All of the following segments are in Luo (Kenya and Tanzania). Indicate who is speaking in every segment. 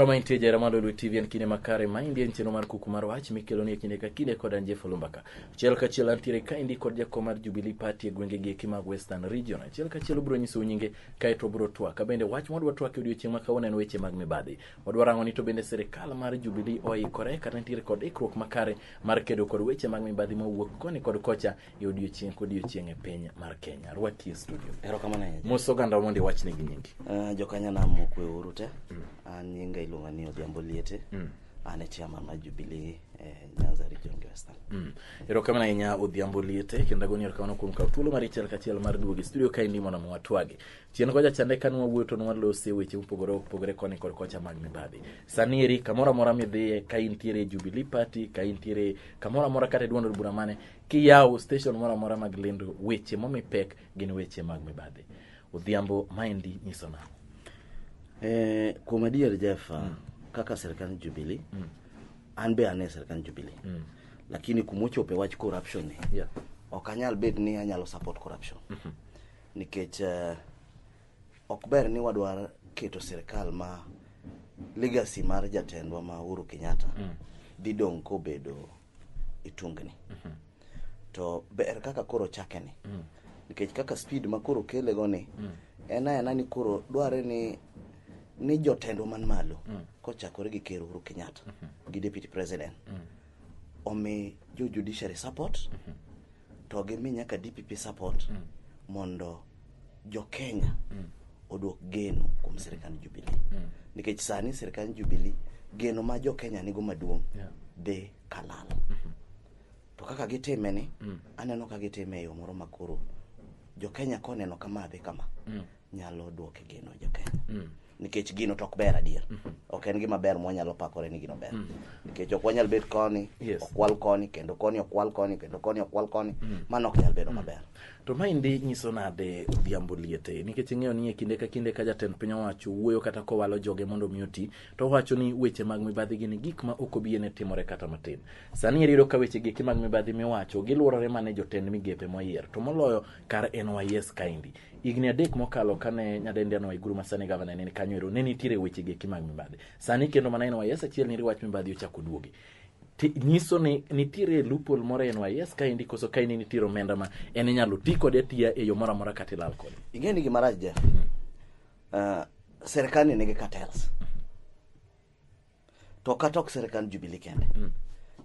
Speaker 1: mantie jara mar Lulu TV en kinde makare ma indien chenro mar kuku mar wach mikelo ni kinde ka kinde kod Anje Fulumbaka. Achiel ka achiel antiere ka indi kod jakom mar Jubilee Party e gwenge gi eki mag Western Region. Achiel ka achiel ubiro nyisou nyinge kaeto wabiro twak kabende wach ma wadwa twak e odiechieng' ma kawuono en weche mag mibadhi wadwa rango ni to bende sirikal mar Jubilee oikore kata nitiere kod ikruok makare mar kedo kod weche mag mibadhi ma wuok koni kod kocha e odiechieng' kodiechieng' e piny mar Kenya rwaki e studio erokamano ahinya mos oganda
Speaker 2: mondo iwachne
Speaker 1: gi nyingi uh, jokanyanam mokwe
Speaker 2: uru te an nyinga iluonga ni odhiambo liete mm. Ane chairman ma Jubilee eh, Nyanza Region Western. Mm. Erokamano ahinya
Speaker 1: Odhiambo Liete kendo agoni erokamano kuom kawo thuolo mar achiel kachiel mar duogo e studio ka indimo na mwatwagi. Chien kocha chande ka nwawuoyo to nwalose weche mopogore opogore koni kod kocha mag mibadhi. Sani eri kamoro amora midhiye ka intiere e Jubilee Party, ka intiere kamoro amora kata e duond od bura mane, kiyawo station moro amora mag lendo weche momi pek gin weche mag mibadhi. Odhiambo, maendi nyiso nang'o? Eh,
Speaker 2: kuom adier Jeff, mm. kaka sirkand Jubilee mm. an be ane sirkand Jubilee mm. lakini kumochope wach corruption ni yeah. ok anyal bed ni anyalo support corruption mm -hmm. nikech uh, ok ber ni wadwar keto sirkal ma legacy mar jatendwa ma Uhuru Kenyatta mm. didong' kobedo itungni mhm. to ber kaka koro chake ni mm. nikech kaka speed ma koro kele go ni mm. en ayana ni koro dware ni ni jotendwa man malo mm. kochakore gi ker Uhuru Kenyatta mm -hmm. gi deputy president mm. omi jo judiciary support mm -hmm. to gimi nyaka DPP support mm. mondo jokenya mm. oduok geno kuom sirikand jubili mm. nikech sani sirikand jubili geno ma jokenya nigo maduong' yeah. dhi kalal mm -hmm. to kaka gitime ni mm. aneno ka gitime e yo moro makoro jokenya koneno kama dhi kama mm. nyalo duoke geno jokenya mm. nikech gino to ok ber adier ok en gima ber mwanyalo pakore ni gino ber nikech ok wanyal bet koni Yes. okwal koni kendo koni okwal koni kendo koni okwal koni mano ok nyal bedo maber to maendi
Speaker 1: nyiso nade odhiambo liete nikech ing'eyo ni e kinde ka kinde ka jatend piny owacho wuoyo kata kowalo joge mondo omi oti to owacho ni weche mag mibadhi gini gik ma ok obiene timore kata matin sani eri iyudo ka weche geki mag mibadhi miwacho gilworore mana e jotend migepe moyier to moloyo kar NYS kaendi Higni adek mokalo kane nyadendi Anne Waiguru ma sani gavana ne ni kanyo ero ne nitiere weche geki mag mibadhi. Sani kendo mana NYS achiel ni wach mibadhi ochako duogi. Ti- nyiso ni nitiere loophole moro e NYS ka endi koso ka endi nitiere omenda ma en inyalo ti kode atiya e yo moro amora kata ilal kode. ing'e ni gima rach Jeff
Speaker 2: uh, serikal ni nigi cartels to kata ok sirikand Jubilee kende mm.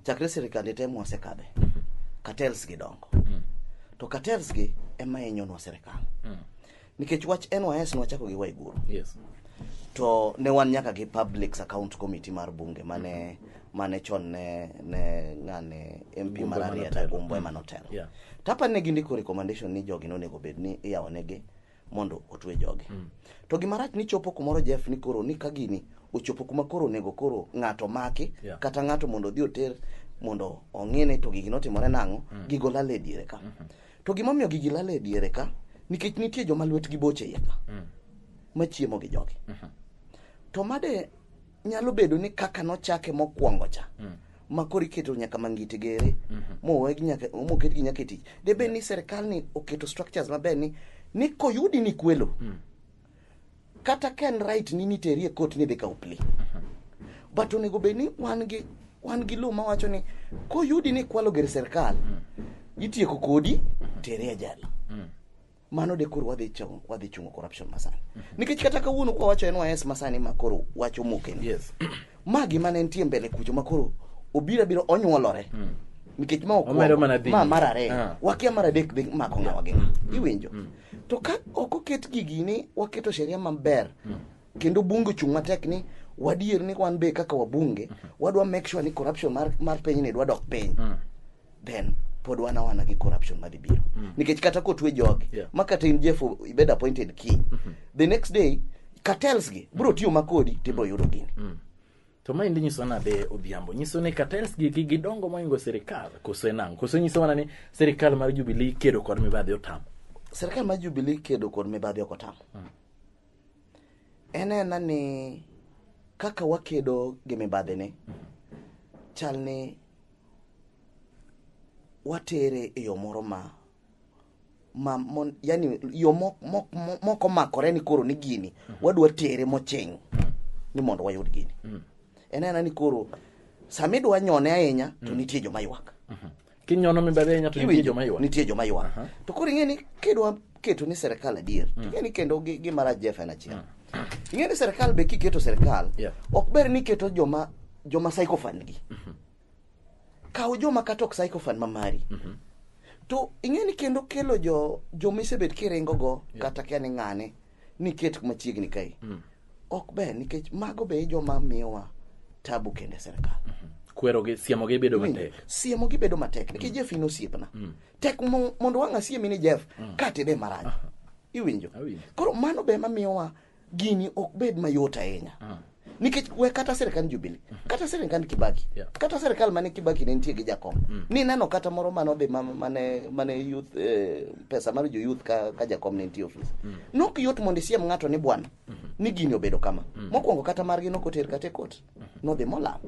Speaker 2: chakre sirikande te mwasekadhe mm -hmm. cartels gi dongo mm. to cartels gi ema hinyonwa sirikal mm. nikech wach NYS nwachako gi Waiguru yes.
Speaker 1: to
Speaker 2: ne wan nyaka gi Public Account Committee mar bunge mane mm -hmm mane chon ne ne ngane MP mar Arieta Gumbo ema notelo. Yeah. Tapa ne gindiko recommendation ni jogi nonego bed ni iyawo negi mondo otwe joge mm. to gima rach ni chopo kumoro jeff ni koro ni ka gini ochopo kuma koro onego koro ng'ato maki yeah. kata ng'ato mondo odhi oter mondo ong'ine to gigi notimore nang'o mm. gigo lal e diere ka mm -hmm. to gimomiyo gigi lal e diere ka nikech nitie joma lwetgi boche iye ka mm. machiemo gi jogi mm -hmm. to made nyalo bedo ni kaka nochake mokwongo cha mm. ma koro iketo nyaka mangiti gere mm -hmm. mowegi nyaka moket gi nyaka e tich de bed ni serikal ni oketo structures maber ni ni koyudi ni kwelo mm. kata ken right ni niteri e kot ni dhi kaw pli mm -hmm. but onego bed ni wan gi wan gi lo mawacho ni koyudi ni kwalo ger serikal mm. itieko kodi mm -hmm. tere ajali mm. mano de koro wadhi chung- wadhi chungo corruption masani nikech kata kawuono kwa wacho NYS masani ma koro wacho mokeni Yes. ma
Speaker 1: gima ne
Speaker 2: nitie mbele kucho ma koro obira biro onyuolore nikech ma Omedo okwongo, mana dhi. ma mar ariyo Ah. wakia mar adek dhi mako ng'awa gi iwinjo to ka ok oket gigi ni waketo sheria maber kendo bunge ochung' matek ni wadier ni wan be kaka wabunge wadwa make sure ni corruption mar, mar piny ni dwa dok piny then pod wan awana gi corruption madhi biro mm. nikech kata kotwe jogi yeah. ma kata in jeff ibed appointed king mm -hmm. the next day cartels gi bro tiyo makodi tibro yudo gini mm. to maendi
Speaker 1: nyiso nade odhiambo nyiso ni cartels gi gi gidongo moingo sirikal koso enang koso nyiso mana ni sirikal mar jubilee kedo kod mibadhi otam sirikal mar
Speaker 2: jubilee kedo kod mibadhi ok otam mm. en ena ni kaka wakedo gi mibadhi ni mm. chal ni watere e yo moro ma ma mon, yani yo mok mok moko makore ni koro ni gini mm -hmm. wadwa tere mocheng ni mondo wayud gini mm -hmm. en ena ni koro sama idwa nyone ahinya to mm -hmm. nitie joma ywak mm -hmm. kinyono
Speaker 1: mibadhi ahinya to nitie joma ywak nitie joma ywak uh -huh. to
Speaker 2: koro ing'e ni kidwa keto ni serikal adier mm. ing'e ni kendo gima rach jeff en achiel mm. ing'e ni serikal be kiketo serikal yeah. ok ber ni keto joma joma psychofan gi mm -hmm. kaw joma kata ok psychofan ma mari mm -hmm. to ing'e ni kendo kelo jo joma isebet kiringo go yeah. kata kia ni ng'ane ni ket machiegni kae mm. ok ber nikech mago be joma miyowa tabu kende serikal mm -hmm. kwerogi
Speaker 1: siemogi bedo matek siemogi bedo matek
Speaker 2: nikech mm. jefin osiepna mm. tek mo- mondo wang' asiemi ni jeff ka tede marach iwinjo Awinjo. koro mano be mamiyowa gini ok bed mayot ahinya nikech we kata sirikand jubili kata sirikand kibaki Yeah. kata sirikal mane kibaki ne nitie gi jakom nineno kata moro manodhi ma- mane mane youth eh, pesa mar jo youth ka, ka jakom ne nitie ofis nok yot mondo isiem ng'ato ni bwana ni gini obedo kama mokwongo kata margi nokoter kata e kot nodhi molal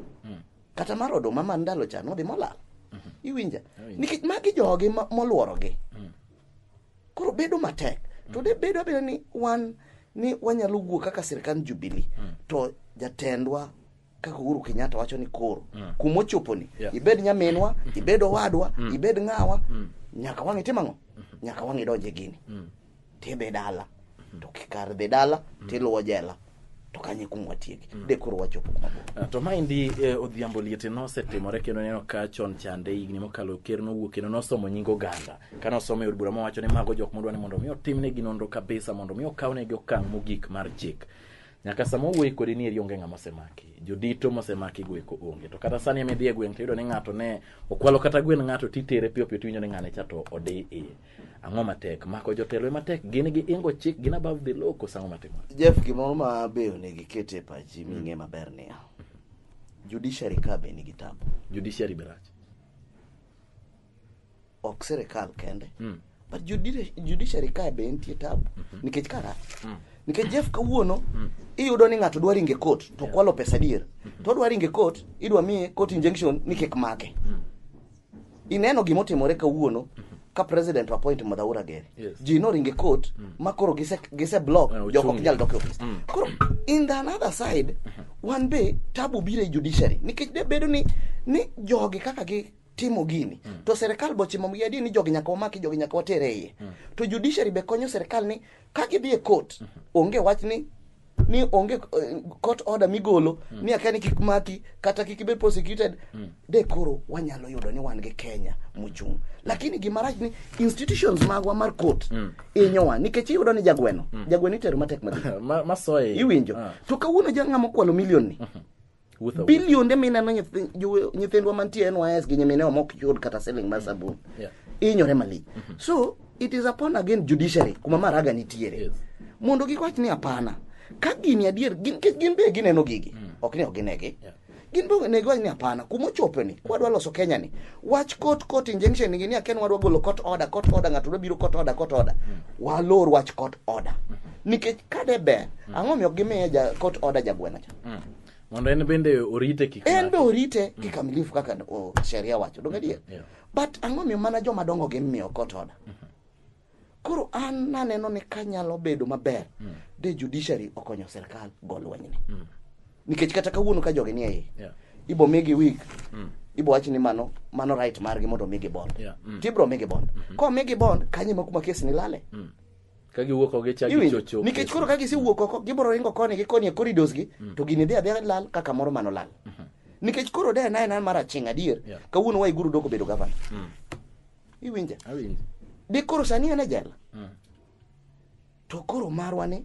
Speaker 2: kata mar oduma mar ndalo cha nodhi molal mhm. iwinja oh, nikech magi jogi molworogi mm. koro bedo matek mm. to de bedo abeda ni wan ni wanyalo wuo kaka sirikand jubili mm. to jatendwa kaka uhuru kenyatta wacho ni koro kuma ochoponi ibed nyaminwa ibed owadwa ibed ng'awa nyaka wang'e tim ang'o mm-hmm. nyaka wang'e donje gini tidhi dala to kikar dhi dala tiluwo jela to kanye kuong watieki de koro wachopo kuma bor Ah, to maendi eh,
Speaker 1: odhiambo liete nosetimore kendo neno ka chon chande higni mokalo ker nowuok kendo nosomo nying oganda kane osomo e od bura mowacho ni mago jok modwa ni mondo mi otimnegi nonro kabisa mondo mi okawnegi okang' mogik mar chik nyaka sama owuoyi kodi ni eri onge ng'ama osemaki jodito mosemaki go eko onge to kata sani emidhi e gweng' tiyudo ni ng'ato ne okwalo kata gwen ng'ato titere piyo piyo tiwinjo ni ng'ane cha to odi iye ang'o matek mako jotelo ema tek gin gi ingo chik gin above the law koso ang'o matimore jeff gimoro ma
Speaker 2: be onego iket e pachi ming'e maber niya judiciary ka be nigi tabu judiciary be rach ok sirikal kende Mm. but judi- judiciary ka be nitie tabu nikech ka rach nikech jeff kawuono iyudo ni ng'ato dwa ringe court to kwalo pesa adier to odwa ringe court idwa miye court injunction ni kik make ineno gima otimore kawuono ka president appoint madhaura gere Yes. ji noringe court ma koro gise, gise block Eh, joko ok ochungi. nyal dok e ofis koro in the another side wan be tabu biro e judiciary nikech de bedo ni ni jogi kaka gi timo gini to serikal bochimo gi adier ni jogi nyaka wamaki jogi nyaka watere iye to judiciary be konyo serikal ni ka gidhi e court onge wach ni ni onge eh, court order migolo mm. ni akani kik maki kata kik ibed prosecuted mm. de koro wanyalo yudo ni wan gi Kenya muchung lakini gima rach ni institutions magwa mar court mm. inyowa nikech iyudo ni jagweno mm. jagweno itero matek madhi ma, masoye
Speaker 1: iwinjo ah. to
Speaker 2: kawuono jang'ama kwalo milion ni mm -hmm bilionde mineno nyithindwa mantie nys gi nyiminewa mok yud kata siling mar sabun inyore malich mhm. so it is upon again judiciary kuma maraga nitiere mondo gikwach ni apana ka gini adier nikech gin be gineno gigi mm. ok ni ok ginegi gin be onego wach ni apana kuma ochopeni kwadwa loso kenya ni wach court court injunction nigi ni aken wadwa golo court order court order ng'ato dwa biro court order court order mm. walor wach court order mm-hmm. nikech kade ber ang'o miyo gimiye court order jagweno cha Mm. Mondo en bende
Speaker 1: orite kik en be orite mm.
Speaker 2: kikamilifu kaka sheria wacho donge adier yeah. but ang'o miyo mana joma dongo gi miyo kot oda mm-hmm. koro an naneno ni kanyalo bedo maber mm. de judiciary okonyo sirkal go lwenyni mm. nikech kata kawuono ka jogi nie iye yeah. ibo migi wig mm. ibo wachi ni mano mano right margi mondo omigi bond yeah. mm. tibro migi bond mm -hmm. komigi bond kanye ma kuma kes ni lale mm. ka giwuok
Speaker 1: ok gichak Iwinjo? gichocho nikech koro ka gisewuok
Speaker 2: oko gibiro ringo koni gi koni e corridors gi to gini dhi adhiya lal kaka moro mano lal nikech koro de na ena mar aching adier Yeah. kawuono waiguru doko bedo gavana iwinja Awinji. de koro sani en e jela to koro marwa ni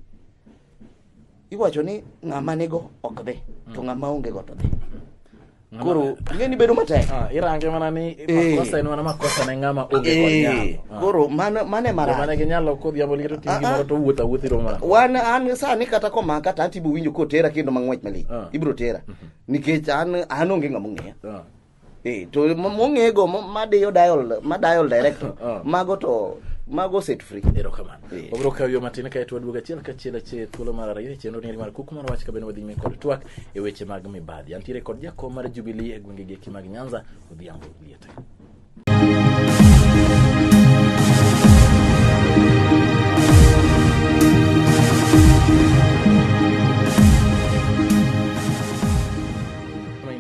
Speaker 2: iwacho ni ng'ama nigo ok dhi to mm. ng'ama onge go to dhi mm. koro ngeni bedo matek ah, irange mana ni
Speaker 1: eh. makosa en mana makosa ne ng'ama onge go eh. nyalo ah. koro mane mane
Speaker 2: mara mane ke nyalo ko diabo
Speaker 1: liketo tingi ah, moro to wuotha wuothi ro mara wan an sani
Speaker 2: kata ko ma kata atibo winjo ko tera kendo mangwech mali ibro tera mhm. nikech an an onge ng'ama ng'eya Eh, to mo- mong'ego mo- madiyo dial madial director Ah. mago to mago set free erokamano Eh. wabiro
Speaker 1: kawo yo matin kae to waduogo achiel kachiel achiel thuolo mar ariyo e chenro ni mar kuku mar wach kabene wadhi nyime kod twak e weche mag mibadhi antiere kod jakom mar jubilee e gwenge geki mag nyanza odhiambo liete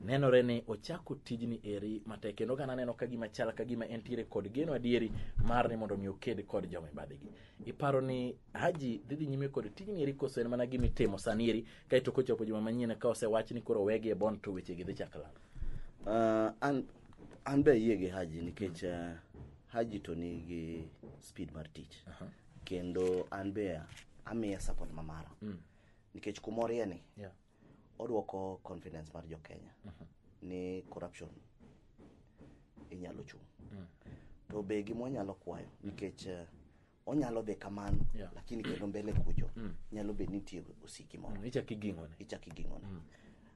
Speaker 1: nenore ni ochako tijni eri matek kendo ka naneno ka gima chal ka gima entiere kod geno adieri mar ni mondo mi oked kod joma ibadhigi iparo ni haji dhi dhi nyime kod tijni eri koso en mana gima itimo sani eri kaeto kochopo juma manyien ka osewach ni koro wegi e bon to wechegi dhi chak lal Ah, an
Speaker 2: an be ayie gi haji nikech ah, haji to nigi speed mar tich kendo an be amiye support mamara nikech kumorie ni Yeah. Odwoko confidence mar jo-Kenya ni corruption inyalo chung'. To be gima wanyalo kwayo nikech eh, onyalo dhi kamano Yeah. lakini kendo mbele kucho nyalo bed ni nitie osiki moro Mm, ichak iging'one ichak
Speaker 1: iging'one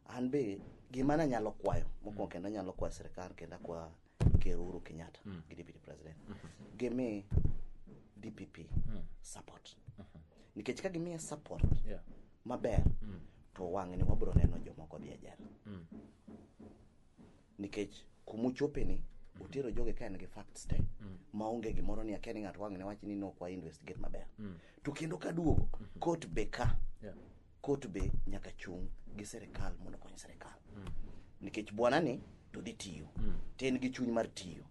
Speaker 2: an be gima nanyalo kwayo mokwongo kendo anyalo kwayo sirikal kendo akwa ker Uhuru Kenyatta mm. gi deputy president mm -hmm. gimi DPP mm. support mm -hmm. nikech ka gimiye support yeah. maber mm. to wang'ni wabiro neno jomoko dhi ajar mm. nikech kumuchopeni mm. utero joge ka en gi facts te mm. maonge gimoro ni akia ni ng'ato wang'ne wach ni nokwa investigate maber mm. to kendo kaduogo mm -hmm. court be ka yeah. Court be nyaka chung' gi serikal mondo okony serikal. Nikech bwana ni to dhi tiyo. To en gi chuny mar tiyo.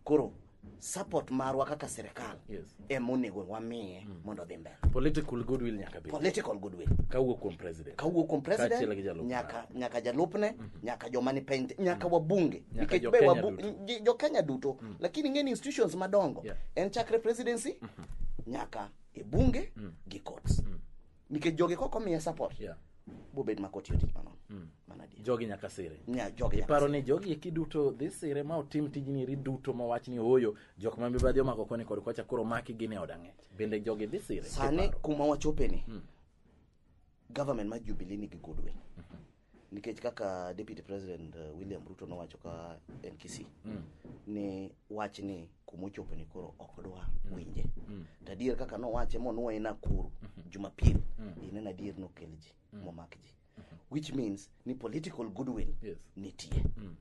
Speaker 2: Koro support marwa kaka serikal Yes. ema onego wamiye mondo odhi mbele. Political goodwill nyaka
Speaker 1: bed. Political goodwill. Kawuok
Speaker 2: kuom president.
Speaker 1: kawuok kuom Kaachiel gi president jalupne. nyaka nyaka
Speaker 2: jalupne nyaka joma ni piny te- nyaka wabunge Nyaka nikech jo be Kenya wabu- duto. ji- jo Kenya duto lakini ng'eni institutions madongo Yeah. en chakre presidency nyaka e bunge gi courts nikech jogi kok omiye support Yeah. bobed ma kotiyo tich manono Mm. mana adier jogi nyaka
Speaker 1: sire Nya- jogi nyaka iparo ni
Speaker 2: jogi eki
Speaker 1: duto dhi sire ma otim tijni eri duto ma wach ni ooyo jok ma mibadhi omako koni kod kocha koro maki gin e od ang'ech bende jogi dhi sire sani Kiparo. kuma wachopeni
Speaker 2: government ma jubilee nigi goodwill nikech kaka deputy president uh, william ruto nowacho ka en kisii mm. ni wach ni kuma ochopo ni koro ok dwa mm. winje mm. to adier kaka nowache monwoye nakuru mm -hmm. jumapil mm. ineno adier nokel ji mm. momak ji mm -hmm. which means ni political goodwill yes. nitie mm.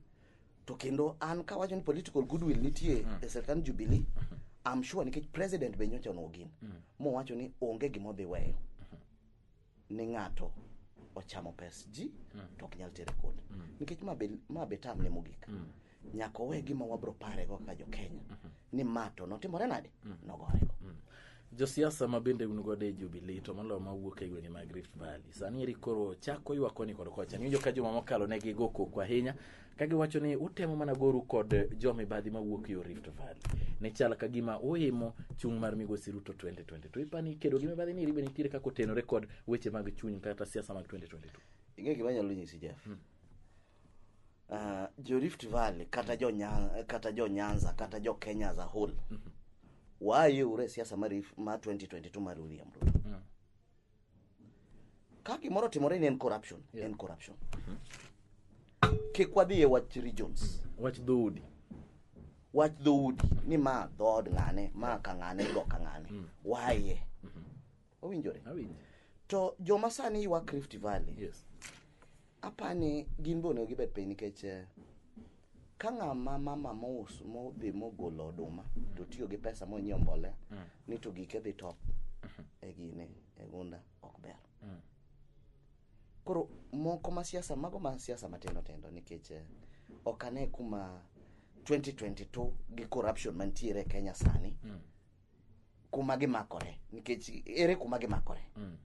Speaker 2: to kendo an kawacho ni political goodwill nitie mm. e sirkand jubilee mm -hmm. I'm sure nikech president be nyocha nogin mm. mowacho ni onge gima odhi weyo ni ng'ato ochamo pes ji mm. to ok nyal tere kod mm. nikech ma be, ma be tam ne mogik mm. nyaka owe gima wabro parego kaka jo kenya mm -hmm. ni ma to notimore nade mm. nogorego mm. josiasa
Speaker 1: ma bende un godo e jubilee to moloyo ma wuok e gwenge mag rift valley sani eri koro chako ywakoni kod kocha niwinjo ka juma mokalo ne gigo koko ahinya ka giwacho ni utemo mana goru kod jo mibadhi mawuok yo Rift Valley. Ne chal ka gima uimo chung' mar migosi Ruto 2020. To ipani kedo gi mibadhi ni ribe nitiere kaka otenore kod weche mag chuny kata siasa mag 2022. Ing'e gima nyalo
Speaker 2: nyisi Jeff. Hmm. Uh, jo Rift Valley kata jo Nyanza kata jo Nyanza kata jo Kenya as a whole. Mm -hmm. Wayo ure siasa mar mar 2022 mar William Ruto. Mm. ka gimoro otimore ni en corruption yeah. en corruption kik wadhi e wach regions wach dhoudi
Speaker 1: wach dhoudi
Speaker 2: ni ma dhood ng'ane ma ka ng'ane go ka ng'ane mm. waye mm-hmm. owinjore to joma sani ywak rift valley yes. apani gin be onego gibed piny nikech eh, ka ng'ama mama mous modhi mogolo oduma to tiyo gi pesa monyiewo mbolea mm. ni to gike dhi top mm-hmm. e gine e gunda ok ber mm. koro moko ma siasa mago ma siasa matindo tindo nikech eh, ok ane kuma 2022 gi corruption mantiere e kenya sani mm. kuma gimakore nikech ere kuma gimakore mm.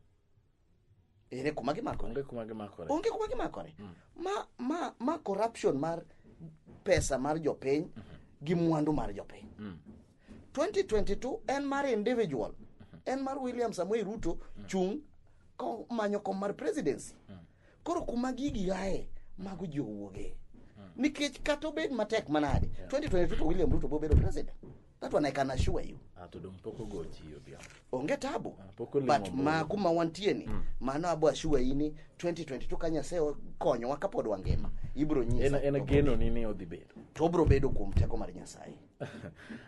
Speaker 2: ere kuma gimakore onge kuma gimakore onge kuma gimakore mm. ma, ma, ma corruption mar pesa mar jopiny mm -hmm. gi mwandu mar jopiny mm. 2022 en mar individual mm -hmm. en mar william samuel ruto mm. chung manyo kom mar presidency mm. koro kuma gigi aye mago ji owuoge mm. nikech kata obed matek manade yeah. 2022 to william ruto bobedo president That one I can assure you. Ah, to dong pok ogo
Speaker 1: chi odhiambo. Onge tabu.
Speaker 2: Ah, pok olimo But mbulu. ma
Speaker 1: kuma wantie
Speaker 2: ni, mano abo assure you ni 2022 ka Nyasaye okonyowa kapod wangima, ibiro En nyisa. en geno ni ni odhi
Speaker 1: bedo. To obiro bedo kuom
Speaker 2: teko mar Nyasaye.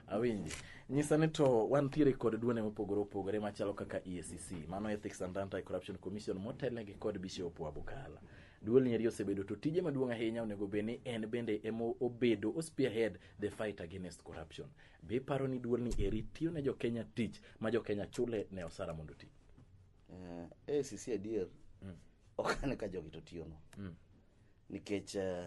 Speaker 2: Awinji.
Speaker 1: Nyisa ni to wantiere kod duone mopogore opogore machalo kaka EACC, mano Ethics and Anti-Corruption Commission motelnegi kod Bishop Wabukala. Duol nieri osebedo to tije maduong' ahinya onego bed ni en bende emo obedo o spearhead the fight against corruption. Be iparo ni duol ni eri tiyo ne jokenya tich ma jokenya chule ne osara mondo ti? Uh, eh,
Speaker 2: ACC eh, adier mm. ok ane ka jogi to tiyono mm. nikech uh,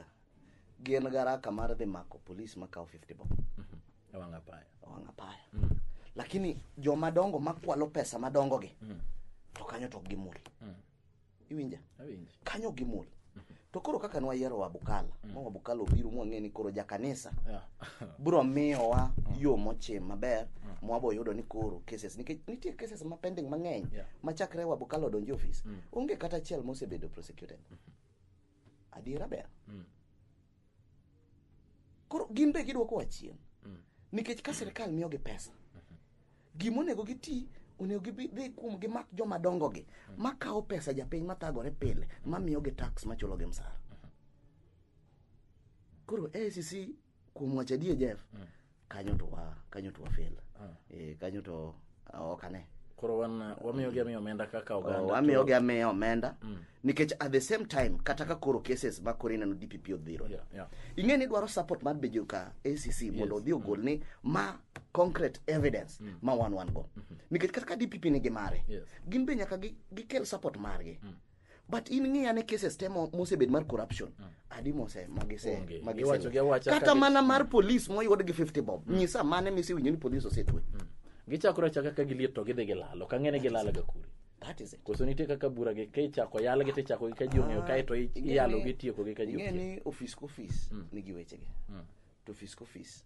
Speaker 2: gin garaka mar dhi mako polis makawo 50 bob mm -hmm. ewang' apaya
Speaker 1: ewang' apaya mm. lakini
Speaker 2: jomadongo makwalo pesa madongogi mm. to kanyo to ok gimul mm. iwinja Awinji. kanyo
Speaker 1: gimul
Speaker 2: to koro kaka nwayiero wabukala ma wabukala obiro mwang'e ni koro jakanisa Yeah. bro miyowa yo mochim maber mwabo yudo ni koro cases nikech nitie cases ma pending mang'eny Yeah. ma chakre wabukala odonje ofis onge kata achiel mosebedo prosecuted Adiera ber. Mm. Koro gin be gidwoko wa chien. Mm. Nikech ka sirkal miyo gi pesa, mm-hmm. gima onego giti onego gidhi kuom gimak joma dongogi mm. makawo pesa japiny mathagore pile mamiyogi tax machulogi msara. Mm-hmm. Koro ACC kuom wacho adier Jeff mm. kanyo to wa kanyo to wafel ah. eh kanyo to ah, ok ane koro wan ah,
Speaker 1: wamiyo gi amiyo omenda kaka oh, oganda oh, wamiyo gi amiyo omenda
Speaker 2: mm. nikech at the same time kata ka koro cases ma koro ineno DPP odhiro yeah, yeah. ing'e ni dwaro support mar bejo ka ACC yes. mondo odhi ogol mm. ni ma concrete evidence mm. ma wan wan go mm -hmm. nikech kata ka DPP nigi mare yes. gin be nyaka gikel gi support margi mm. but in ng'iya ne cases te mo- mosebed mar corruption adi mose magise Onge. magise- Iwacho gi awacha kata ka gi- mana mar police moyud gi 50 bob nyisa mane misewinjo ni police osetwe gichakore achaka
Speaker 1: ka giliet to gidhi gilalo ka ng'ene gilalo ga kuri that is it koso nitie
Speaker 2: kaka bura gi ka
Speaker 1: ichako yalgi to ichako gi ka ji ong'eyo kae to i- Ing'e iyalo ni- gi tieko gi ka ji ing'e okiyo. ni office ka office
Speaker 2: nigi wechege to office ka office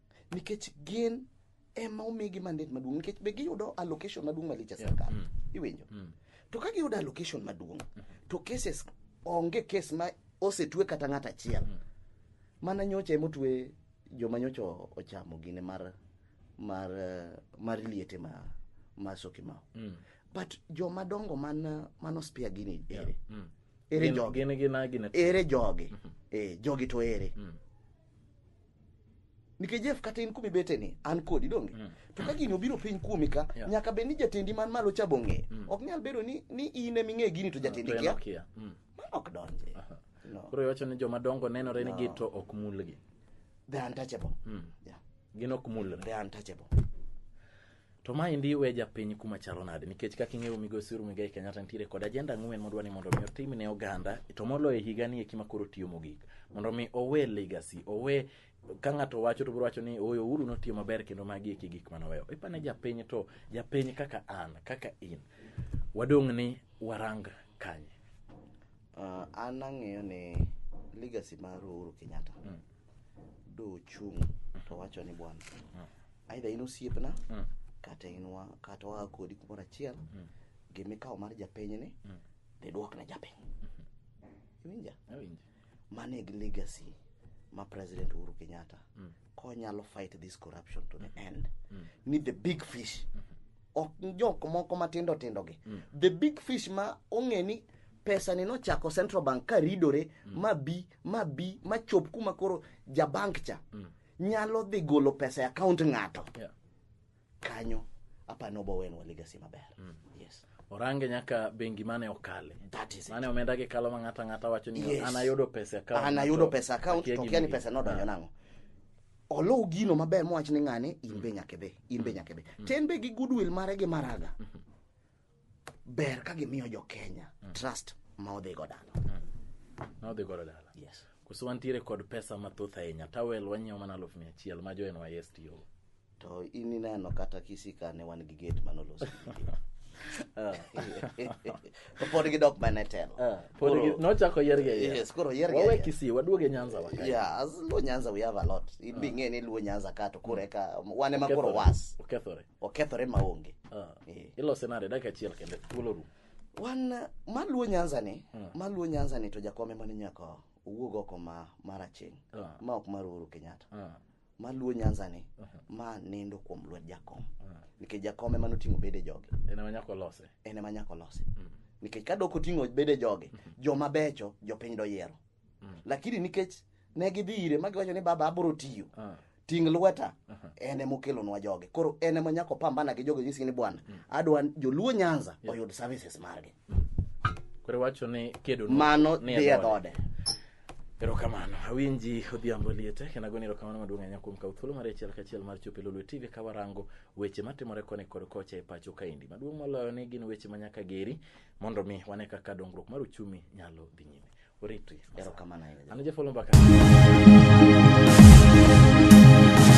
Speaker 2: nikech gin ema omigi mandet maduong' nikech be giyudo allocation maduong' malich e sirkal mm. iwinjo mm. to ka giyudo allocation maduong' mm. to cases onge kes ma osetue kata ng'at achiel mm. mana nyocha emotue joma nyocha ochamo gine mar mar mar liete ma ma sokimao mm. but joma dongo man man ospia gini ere yeah. mm. ere jogi ere jogi mm -hmm. e, jogi to ere mm. nikech Jeff kata in kumibete ni an kodi donge mm. to ka gini obiro piny kuomi ka yeah. nyaka bed ni jatendi man malo cha bong'e mm. ok nyal bedo ni, ni in ema ing'e gini to ah, jatendi kia yeah. mm. mano ok donje uh -huh. no. koro iwacho
Speaker 1: ni joma dongo nenore no. ni gi to ok mulgi the untouchable
Speaker 2: mm. yeah. gin
Speaker 1: ok mulre the untouchable To ma endi we japiny kuma chalo nade nikech kaka ing'eyo migosi Uhuru Muigai Kenyatta nitiere kod ajenda ang'wen modwa ni mondo mi otim ne oganda to moloyo higa ni eki ma koro tiyo mogik mondo mi owe legacy owe ka ng'ato wacho to biro wacho ni oyo Uhuru notiyo maber kendo magi eki gik mane oweyo ipane japiny to japiny kaka an kaka in wadong' ni warang kanye
Speaker 2: uh, an ang'eyo ni legacy mar Uhuru Kenyatta mm. dochung' to wacho ni bwana mm. aidha in osiepna Mm. kata in wa kata waa kodi kumoro achiel gimikawo mar japinyni dhi duokna japiny iwinja Awinji. mano e legacy ma president uhuru kenyatta konyalo fight this corruption to the end ni the big fish ok jok moko matindo tindo gi the big fish ma ong'e ni pesa ni nochako central bank ka ridore ma bi ma bi ma chop kuma koro jabank cha nyalo dhi golo pesa e account ng'ato Yeah. kanyo apani obowenwa legacy maber mm. yes orange nyaka
Speaker 1: bengi mane okale that is it mane omenda
Speaker 2: gi kalo ma ng'ata
Speaker 1: ng'ata wacho ni Yes. an ayudo pesa e account an ayudo to pesa account akia
Speaker 2: to gima kia ni gi- pesa nodonjo Ah. nang'o oluw gino maber mowach ni ng'ane in be nyaka idhi in be nyaka idhi to en be gi goodwill mare gi maraga ber ka gimiyo jo kenya mm. trust ma odhi go dala mm. ma odhi godo dala yes
Speaker 1: koso wantiere kod pesa mathoth ahinya tawel wanyiewo
Speaker 2: mana
Speaker 1: aluf mia achiel ma jo nys tiyogo to
Speaker 2: in ineno kata kisika ne wan gi gate manolosi ah. pod gidok mana e telo ah, nochako
Speaker 1: yergeyes koro yergewawe
Speaker 2: kisii waduoge
Speaker 1: nyanza waka yeah, as luo nyanza
Speaker 2: we have a lot in ah. bing'e ni luo nyanza ka to koro eka wan ema koro was okethore okethore maonge Ah, Eh. ilose
Speaker 1: nade dakika achiel kende thuolo rum wan eh,
Speaker 2: maluo nyanza ni maluo nyanza ni to jakom ema ni nyaka owuog oko ma maraching Ah. ma ok mar uhuru kenyatta Ah, maluo nyanza ni ma nindo kuom lwet jakom nikech jakom ema noting'o bede joge en ema nyaka olose
Speaker 1: en ema nyaka olose nikech ka dok oting'o bede joge joma becho jopiny doyiero lakini nikech ne gidhi ire ma giwacho ni baba abiro tiyo Ah. ting' lweta en ema okelonwa jogi koro en ema nyaka opambana gi jogi nyisi ni bwana mm. adwa joluo nyanza oyud services margi koro iwacho ni kedo mano ni dhi e dhode erokamano awinji odhiambo liete kendo agoni erokamano maduong' ahinya kuom kawo thuolo mar achiel kachiel mar chopo e lolwe tv ka warango weche matimore koni kod kocha e pacho kaendi maduong' moloyo ni gin weche ma nyaka geri mondo mi wane kaka dongruok mar uchumi nyalo dhi nyime Oriti, erokamano
Speaker 2: ahinya. An
Speaker 1: Jeff Olomba ka.